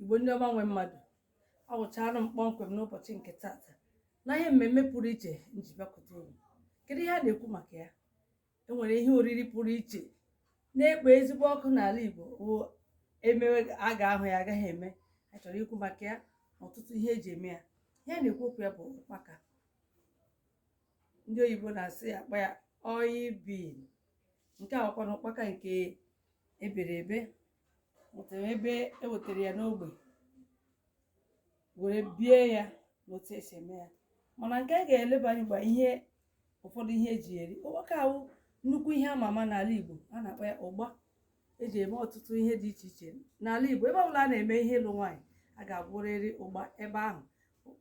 igbo ndị ọma nwe mmadụ awụchara m kpọmkwem n'ụbọchị nke tata na ihe mmemme pụrụ iche nji bịakwute unu kedu ihe a na-ekwu maka ya enwere ihe oriri pụrụ iche na-ekpo ezigbo ọkụ n'ala igbo o emewe a ga-ahụ ya agaghị eme a chọrọ ikwu maka ya na ọtụtụ ihe eji eme ya ihe a na-ekwu okwu ya bụ ụkpaka ndị oyibo na-asị ya akpọ ya oil bean nke a wụkwanụ ụkpaka nke ebere ebe nwetara ebe e wetara ya n'ogbe were bie ya n'otu esi eme ya mana nke a ga-eleba anya bụ ihe ụfọdụ ihe eji eri ụkpaka a wụ nnukwu ihe ama ama n'ala igbo a na-akpọ ya ụgba eji eme ọtụtụ ihe dị iche iche n'ala igbo ebe ọbụla a na-eme ihe ịlụ nwaanyị a ga-agwọrịrị ụgba ebe ahụ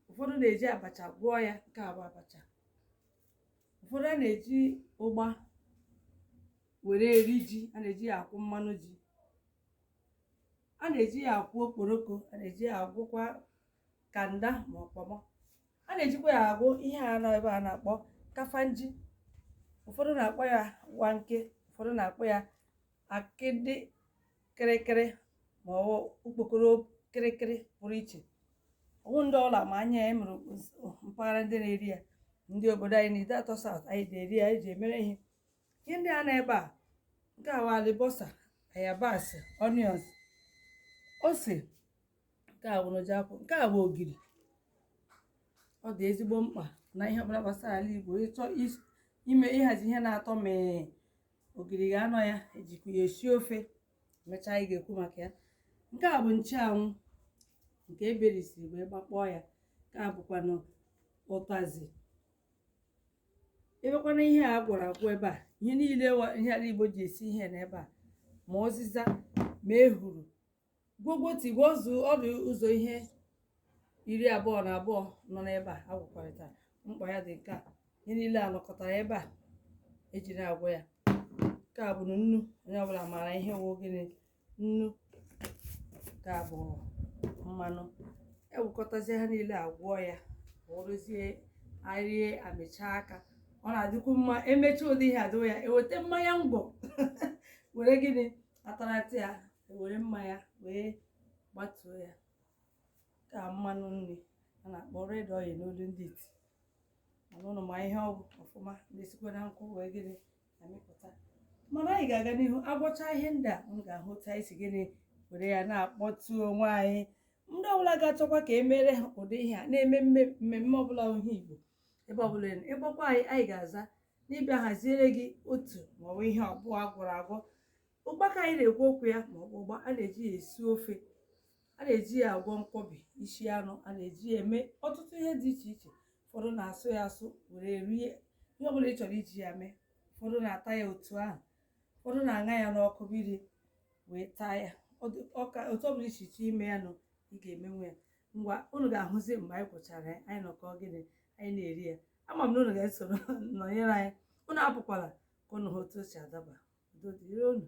ụfọdụ na-eji abacha gwọọ ya nke a bụ abacha ụfọdụ a na-eji ụgba were eri ji a na-eji ya agwọ mmanụ ji a na-eji ya agwọ okporoko a na-eji ya agwọkwa kanda ma ọ kpọmọ a na-ejikwa ya agwọ ihe a nọ ebe a na-akpọ kafanji ụfọdụ na-akpọ ya wanke ụfọdụ na-akpọ ya akịdị kịrịkịrị ma ọ okpokoro kịrịkịrị pụrụ iche ọ wụ ndị ọlụ ma anya ya e nwere mpaghara ndị na-eri ya ndị obodo anyị na ideatọ south anyị ji eri ya anyị ji emere ihe ihe ndị a nọ ebe a nke a wụ alibọsa ayabasị onions ose nke a wụrụ ji akwụ nke a bụ ogiri ọ dị ezigbo mkpa na ihe ọbụla gbasara ala igbo ị chọọ ime ịhazi ihe na-atọ mee ogiri ga-anọ ya ejikwa ya esi ofe mechaa anyị ga-ekwu maka ya nke a bụ nchụanwụ nke eberisiri wee gbakpọọ ya nke a bụkwanụ ụtazi ebekwana ihe a gwọrọ agwọ ebe a ihe niile ihe ala igbo ji esi ihe n'ebe a ma ụzịza ma ehuru Gwọgwọtị gwọzuo ọ dị ụzọ ihe iri abụọ na abụọ nọ n'ebe a agwọkọrịta mkpa ya dị nke a ihe niile a nọkọtara ebe a ejiri agwọ ya nke a bụ nnu onye ọbụla maara ihe wụ gịnị nnu nke a bụ mmanụ ewekọtazie ha niile agwọọ ya ọ wụrụzie erie amịcha aka ọ na-adịkwu mma emecha ụdị ihe adịwa ya eweta mmanya ngwọ were gịnị atarata ya ewere mmanya wee gbatuo ya nke a mmanụ nri a na-akpọ red oil n'olu ndị iti mana ụnụ ma ihe ọ wụ ọfụma na-esikwa na nkwụ wee gịnị amịpụta mana anyị ga-aga n'ihu agwọcha ihe ndị a ụnụ ga-ahụ otu anyị si gịnị were ya na-akpọtu onwe anyị ndị ọbụla ga-achọkwa ka e meere ha ụdị ihe a na-eme mme- mmemme ọbụla ihe igbo ebe ọbụla ị nọ. ị kpọkwa anyị anyị ga-aza n'ịbịa haziere gị otu maọbụ ihe ọbụla a gwọrọ agwọ ụkpaka anyị na-ekwu okwu ya ma ọbụ ụgba a na-eji ya esi ofe a na-eji ya agwọ nkwọbi isi anụ a na-eji ya eme ọtụtụ ihe dị iche iche ụfọdụ na-asụ ya asụ were rie ihe ọbụla ị chọrọ iji ya mee ụfọdụ na-ata ya otu ahụ ụfọdụ na-aṅa ya n'ọkụ mmiri wee taa ya otu ọbụla iche iche ime ya nụ ị ga-emenwe ya ngwa unu ga-ahụzi mgbe anyị gwọchara ya anyị nọkọ gịnị anyị na-eri ya ama m na unu ga-esoro nọnyere anyị unu apụkwala ka unu hụ otu o si adaba udo dịrị unu